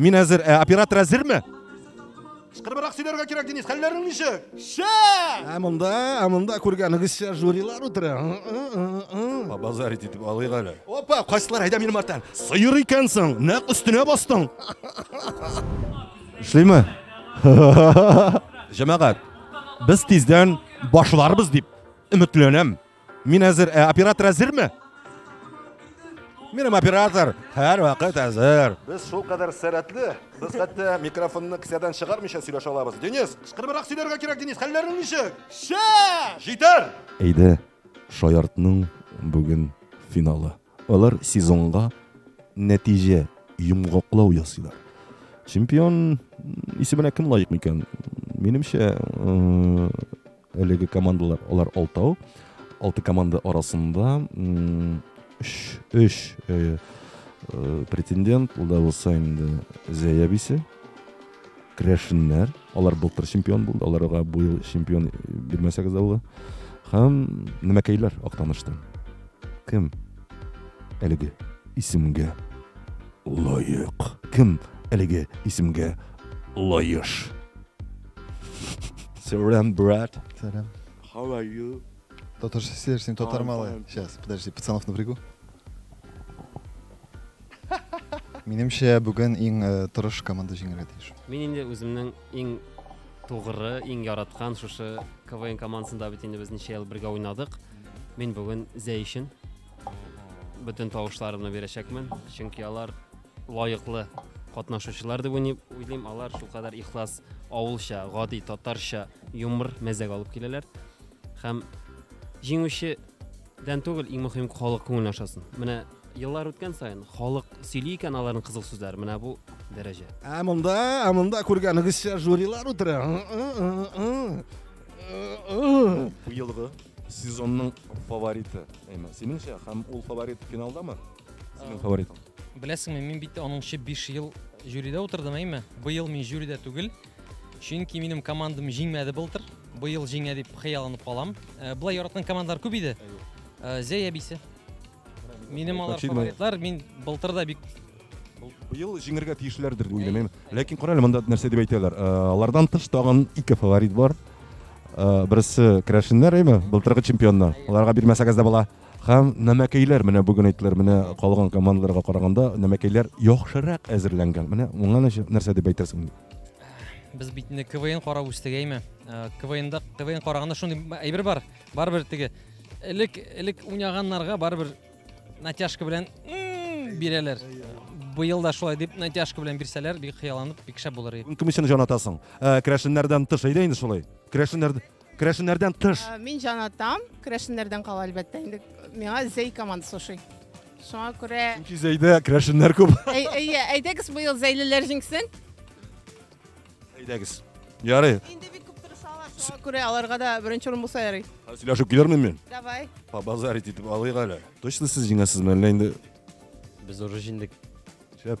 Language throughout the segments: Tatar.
Мин әзер, ә оператор әзерме? Кыскырыбрак сөйләргә кирәк, Денис. Хәлләрең ничек? Шә! Ә монда, ә монда күргәнегезчә жюрилар утыра. Базар итеп алыйк әле. Опа, кайсылар әйдә минем арттан. Сыер икәнсең, нәкъ өстенә бастың. Эшлиме? Җәмәгать, без тиздән башларбыз дип өметләнәм. Мин әзер, ә оператор әзерме? Минем оператор һәр вакыт әзер. Без шул кадәр сәрәтле, без хәтта микрофонны кесәдән чыгармыйча сөйләшә алабыз. Денис, кычкырыбрак сөйләргә кирәк, Денис. Хәлләрең ничек? Шә! Җитәр! Әйдә, шаяртның бүген финалы. Алар сезонга нәтиҗә йомгаклау ясыйлар. Чемпион исеменә кем лаек микән? Минемчә, Әлеге командалар алар алтау. Алты команда арасында өч, өч э, э, претендент, ул да булса инде Зәя бисе, Крәшеннәр. Алар былтыр чемпион булды, аларга бу ел чемпион бирмәсәгез дә була. Һәм Нәмәкәйләр Актаныштан. Кем? Әлеге исемгә лаек. Кем әлеге исемгә лаеш? Сәлам, брат. Сәлам. How are you? Татарша сөйләр, син татар малы. Сейчас, подожди, пацанов напрягу. Минемчә, бүген иң э, тырыш команда җиңәргә тиеш. Мин инде үземнең иң тугры, иң яраткан шушы КВН командасында бит инде без ничә ел бергә уйнадык. Мин бүген Зәй өчен бөтен тавышларымны бирәчәкмен, чөнки алар лаеклы катнашучылар дип уйлыйм алар шулкадәр ихлас авылча гади татарча юмор мәзәк алып киләләр һәм җиңүчедән түгел иң мөһим халык күңелен ашасын менә еллар үткән саен халык сөйли икән аларның кызык сүзләре менә бу дәрәҗә ә монда ә монда күргәнегезчә жюрилар утыра быелгы сезонның фавориты әйме синеңчә һәм ул фаворит финалдамы синең фаворитың Беләсеңме, мин бит аның өчен 5 ел жюрида утырдым, әйме? Быел мин жюрида түгел. Чөнки минем командам җиңмәде былтыр. Быел җиңә дип хыялланып калам. Э, Була яраткан командалар күп иде. Э, Зәй әбисе. Минем алар Очевидно. фаворитлар, мин былтыр да бик Быел җиңергә тиешләрдер дип уйлыйм. әйме? Ләкин кара әле монда нәрсә дип әйтәләр. Э, Алардан тыш тагын ике фаворит бар. Э, Берсе керәшеннәр, әйме? Былтыргы чемпионнар. Аларга бирмәсәгез дә була. Һәм нәмәкәйләр менә бүген әйттеләр, менә калган командаларга караганда нәмәкәйләр яхшырак әзерләнгән. Менә моңа нәрсә дип әйтерсең? Без бит инде КВН карап үстек әйме. Э, КВНда КВН караганда шундый әйбер бар. Барыбер теге элек элек уйнаганнарга барыбер натяжка белән бирәләр. Быел да шулай дип натяжка белән бирсәләр, бик хыялланып, бик шәп булыр иде. Кем өчен җан атасың? Э, Крәшеннәрдән тыш әйдә инде шулай. Крәшеннәрдән Керәшеннәрдән тыш. Э, мин җанатам. Керәшеннәрдән кала әлбәттә инде. Миңа Зәй командасы ошый. Шуңа күрә Чөнки Зәйдә керәшеннәр күп. Әйе, әйдәгез быел Зәйлеләр җиңсен. Әйдәгез. Ярый. Инде бик күп тырышалар. Шуңа күрә аларга да беренче урын булса ярый. Сөйләшеп килермен мин. Давай. По базарить итеп алыйк әле. Точно сез җиңәсезме әллә инде? Без уже җиңдек. Шәп.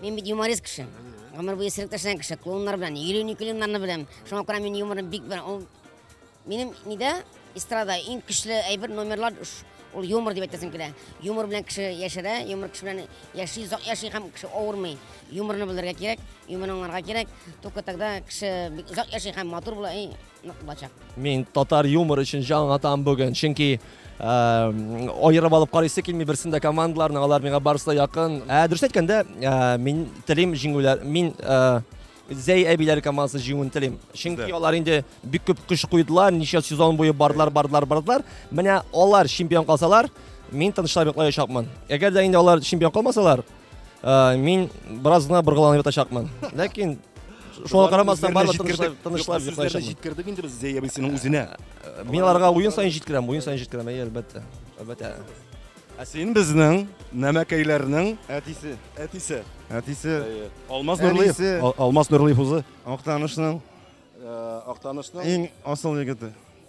Мин бит юморист кеше. Гомер буе сирек ташланган кеше. Клоуннар белән, йөрүни клоуннарны беләм. Шуңа күрә мин юморым бик бер. Ул минем нидә эстрада иң көчле әйбер номерлар ул юмор дип әйтәсем килә. Юмор белән кеше яшәрә, юмор кеше белән яши, озак яши һәм кеше авырмый. Юморны белергә кирәк, юморны аңларга кирәк. Только тогда кеше бик озак яши һәм матур була. нык булачак. Мин татар юмор өчен җан атам бүген, чөнки аерып алып карыйсы килми берсен дә командаларны, алар миңа барысы да якын. Ә дөрес әйткәндә, мин телим җиңүләр, мин Зәй әбиләр командасы җиңүен телим. Чөнки алар инде бик күп көч куйдылар, ничә сезон буе бардылар, бардылар, бардылар. Менә алар чемпион калсалар, мин тынычлап йоклаячакмын. Әгәр дә инде алар чемпион калмасалар, Ә, мин бераз гына боргаланып ятачакмын. Ләкин шуңа карамастан барлык тынычлап тынычлап йоклаячакмын. Җиткердек инде без Зәябисенең үзенә. Ә, мин аларга уен саен җиткерәм, уен саен җиткерәм, әйе, әлбәттә. Әлбәттә. Ә син безнең нәмәкәйләрнең әтисе. Әтисе. Әтисе. Алмаз Нурлыев. Алмаз Нурлыев узы. Актанышның. Э, Актанышның. Иң асыл егете.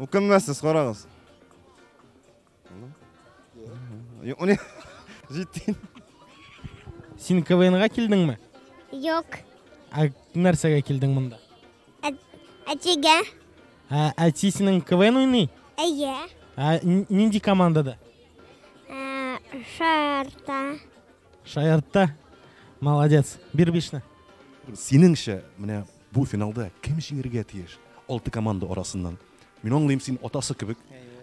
Үкенмәссез, карагыз. Юни, җиттин. Син КВНга килдеңме? Юк. Ә нәрсәгә килдең монда? Әтигә. Ә әти синең КВН уйный? Әйе. Ә нинди командада? Шарта. Шаяртта. Молодец. Бир бишне. Синеңчә, менә бу финалда кем җиңергә тиеш? Алты команда арасыннан. Мин аңлыйм, син атасы кебек,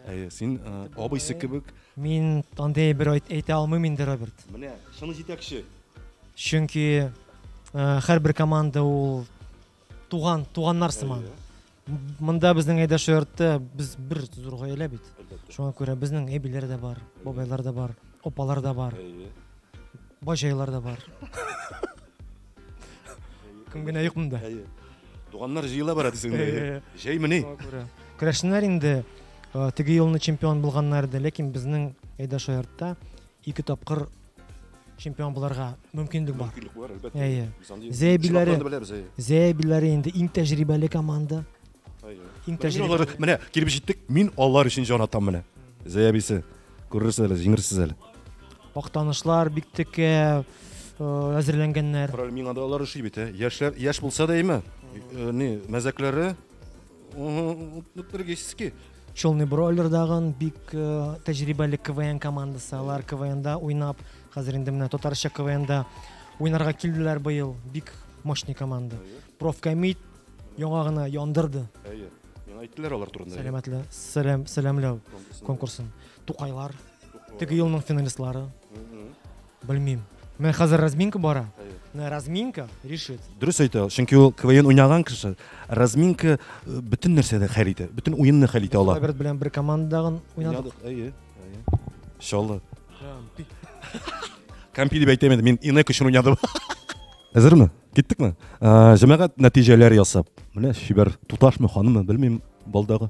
ә син э, абыйсы кебек. Мин андый бер әйтә алмыйм инде, Роберт. Менә шуны җитәкче. Чөнки э, һәрбер команда ул туган, туганнар сыман. Монда безнең әйдә шаяртты, без бер зур гаилә бит. Шуңа күрә безнең әбиләр дә бар, бабайлар да бар, опалар да бар, баҗайлар да бар. Кем генә юк монда. Туганнар җыела бара дисеңме? Җәймени? Күрәшеннәр инде теге елны чемпион булганнар иде, ләкин безнең әйдә шаяртта Ике тапкыр чемпион буларга мөмкинлек бар. Мөмкинлек бар, әлбәттә. Әйе. Зәйбиләре, Зәйбиләре инде иң тәҗрибәле команда. Иң тәҗрибәле. Менә килеп җиттек, мин алар өчен җан атам менә. Зәйбисе. Күрерсез әле, җиңерсез әле. Актанышлар бик текә әзерләнгәннәр. Миңа да алар ошый бит, яшьләр, яшь булса да әйме, не, мәзәкләре Нутригический. Челный бройлер дагын бик э, тәҗрибәле КВН командасы. Алар КВНда уйнап, хәзер инде менә татарча КВНда уйнарга килделәр быел. Бик мощный команда. Профкомит яңа гына яндырды. Әйе. Миңа әйттеләр алар турында. Сәламәтле, сәлам, сәламләү конкурсын. Тукайлар, теге елның финалистлары. Белмим. Менә хәзер разминка бара. Менә разминка решит. Дөрес әйтә, чөнки ул КВН уйнаган кеше. Разминка э, бөтен нәрсәдә хәл итә, бөтен уенны хәл итә ала. Роберт белән бер командадагын уйнадык. Әйе, әйе. Иншалла. Кампи дип әйтәм инде, мин инәк өчен уйнадым. Әзерме? Киттекме? Ә, Җәмәгать нәтиҗәләр ясап. Менә чибәр туташмы, ханымы, белмим, балдагы.